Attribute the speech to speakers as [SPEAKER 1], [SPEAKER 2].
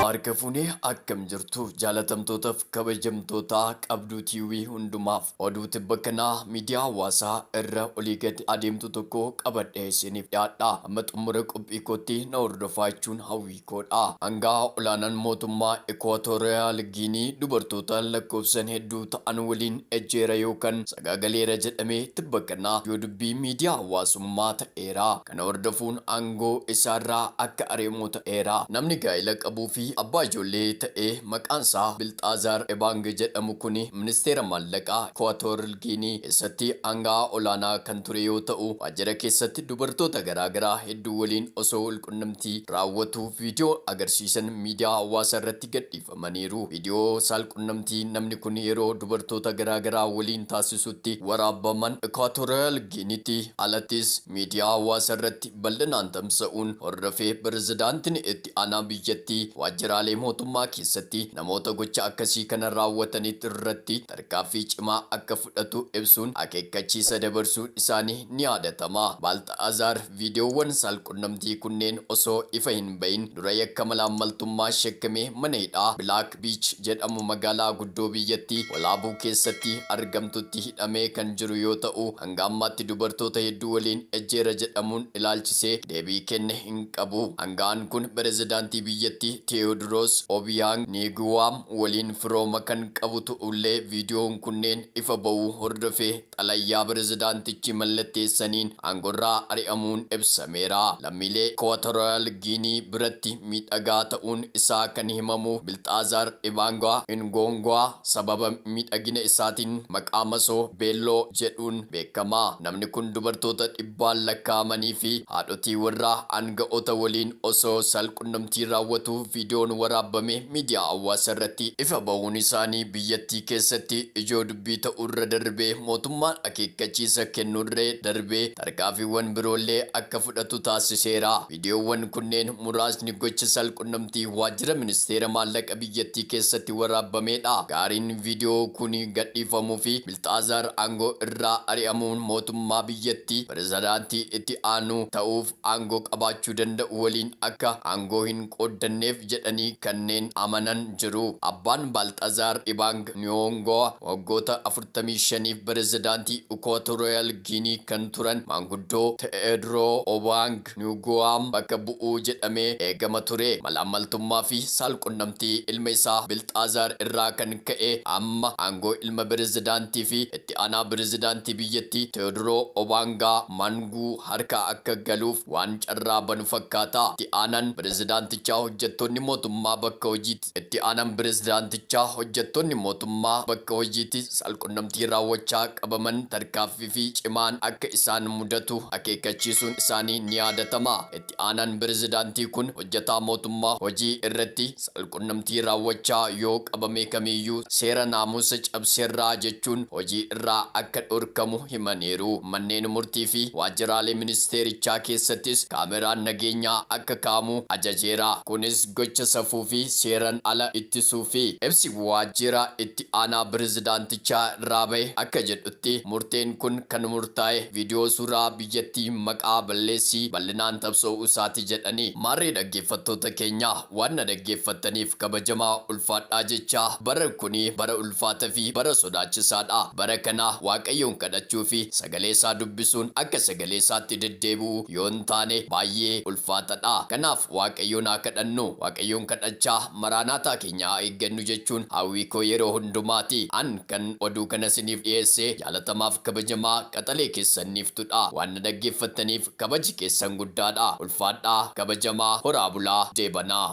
[SPEAKER 1] Harka fuunee akkam jirtu jaalatamtootaaf kabajamtootaa qabduu tiiwii hundumaaf oduu tibba kanaa miidiyaa hawaasaa irra olii gadi adeemtu tokko qabadhee isiniif dhiyaadha. Amma xumura qophii kootti na hordofaa jechuun hawwii koodha. Hangaa olaanaan mootummaa Ikuwaatoriyaal Giinii dubartoota lakkoofsan hedduu ta'an waliin ejjeera yookaan sagaagaleera jedhamee tibba kanaa ijoo dubbii miidiyaa hawaasummaa ta'eera. Kana hordofuun aangoo isaarraa akka ari'amu ta'eera. Namni gaa'ela qabuu fi abbaa ijoollee ta'e maqaansaa Bilxaazaar Ebaang jedhamu kuni ministeera maallaqaa Ikuwaatoorl Giinii keessatti aanga'aa olaanaa kan ture yoo ta'u, waajjira keessatti dubartoota garaa garaa hedduu waliin osoo walqunnamtii raawwatuu viidiyoo agarsiisan miidiyaa hawaasaarratti gadhiifame. qabamaniiru. Viidiyoo saalqunnamtii namni kun yeroo dubartoota garaa garaa waliin taasisutti waraabaman Ikwaatooriyaal Giiniitti alattis miidiyaa hawaasaa irratti bal'inaan tamsa'uun hordofee pirezidaantiin itti aanaa biyyattii waajjiraalee mootummaa keessatti namoota gocha akkasii kana raawwataniit irratti tarkaanfii cimaa akka fudhatu ibsuun akeekkachiisa dabarsuun isaanii ni yaadatama. Baalxa'aazaar. Viidiyoowwan saalqunnamtii kunneen osoo ifa hin bahin dura yakka malaammaltummaa shakkamee mana hidhaa Bilaak Biich jedhamu magaalaa guddoo biyyattii Walaabuu keessatti argamtutti hidhamee kan jiru yoo ta'u, hanga ammaatti dubartoota hedduu waliin ejjeera jedhamuun ilaalchisee deebii kenne hin qabu. Aanga'aan kun pirezidaantii biyyattii Teewodiroos Obiyaang Niiguwaam waliin firooma kan qabu ta'ullee viidiyoon kunneen ifa ba'uu hordofee Xalayaa pirezidaantichi mallatteessaniin aangorraa ari'amuun ibsameera. Lammiilee Ikuwaatoriyaal Giinii biratti miidhagaa ta'uun isaa kan himamu Bilxaazaar Ibaangwaa Ingoongwaa sababa miidhagina isaatiin maqaa masoo, Beelloo, jedhuun beekama. Namni kun dubartoota dhibbaan lakkaa'amanii fi haadhotii warraa aanga'oota waliin osoo saal-qunnamtii raawwatuu viidiyoon waraabbame miidiyaa hawaasaa irratti ifa bahuun isaanii biyyattii keessatti ijoo dubbii ta'uurra darbee mootummaan akeekkachiisa kennuurra darbee tarkaanfiiwwan biroollee akka fudhatu taasiseera. Viidiyoowwan kunneen muraasni gocha saalqunnamtii waajjira ministeera maallaqa biyyattii keessatti waraabbameedha. Gaariin viidiyoo kun gadhiifamuufi Bilxaazaar aangoo irraa ari'amuun mootummaa biyyattii pirezidaantii itti aanuu ta'uuf aangoo qabaachuu danda'u waliin akka aangoo hin qooddanneef jedhanii kanneen amanan jiru. Abbaan Baalxazaar Ibaang Niyoongowa waggoota 45f pirezidaantii Ikwaatooriyaal Giinii kan turan maanguddoo Te'eedroo Obaang Niwuguwaam bakka bu'u jedhamee eegama ture. Malaammaltummaa fi saalqunnamtii ilma isaa Bilxaazaar irraa kan ka'e amma aangoo ilma pirezidaantii fi itti Itti aanaa pirezidaantii biyyattii Tewodiroo Obaangaa Maanguu harka akka galuuf waan carraa banu fakkaata. Itti aanaan pirezidaantichaa hojjattoonni mootummaa bakka hojiitti Itti aanaan pirezidaantichaa hojjattoonni mootummaa bakka hojiitti saalqunnamtii raawwachaa qabaman tarkaaffifi cimaan akka isaan mudatu akeekkachiisuun isaanii ni yaadatama. Itti. Itti aanaan pirezidaantii kun hojjetaa mootummaa hojii irratti saalqunnamtii raawwachaa yoo qabame kamiiyyuu seera naamusa cabseera jechuun hojii irraa akka dhorkamu himaniiru. Manneen murtii fi waajjiraalee ministeerichaa keessattis kaameraan nageenyaa akka kaa'amu ajajeera. Kunis gocha safuu fi seeran ala ittisuufi. Ibsi waajjira itti aanaa pirezidaantichaa irraa bahe akka jedhutti murteen kun kan murtaa'e viidiyoo suuraa biyyattii hin maqaa balleessii bal'inaan tabsoo'uu isaati jedhani. Maarree dhaggeeffattoota keenya waan na dhaggeeffattaniif kabajamaa ulfaadhaa jechaa bara kuni bara ulfaata fi bara sodaachisaa dha. Bara kana Waaqayyoon kadhachuu fi sagalee isaa dubbisuun akka sagalee isaatti deddeebi'u yoo hin taane baay'ee ulfaata dha. Kanaaf Waaqayyoon haa kadhannu. Waaqayyoon kadhachaa Maraanaataa Keenya haa eeggannu jechuun hawwii koo yeroo hundumaati. An kan oduu kana siniif dhiyeesse jaalatamaaf kabajamaa qaxalee keessan Niiftudha. Waan na dhaggeeffattaniif kabaji keessan guddaadha. Ulfaadhaa kabajamaa horaa bulaa deebanaa.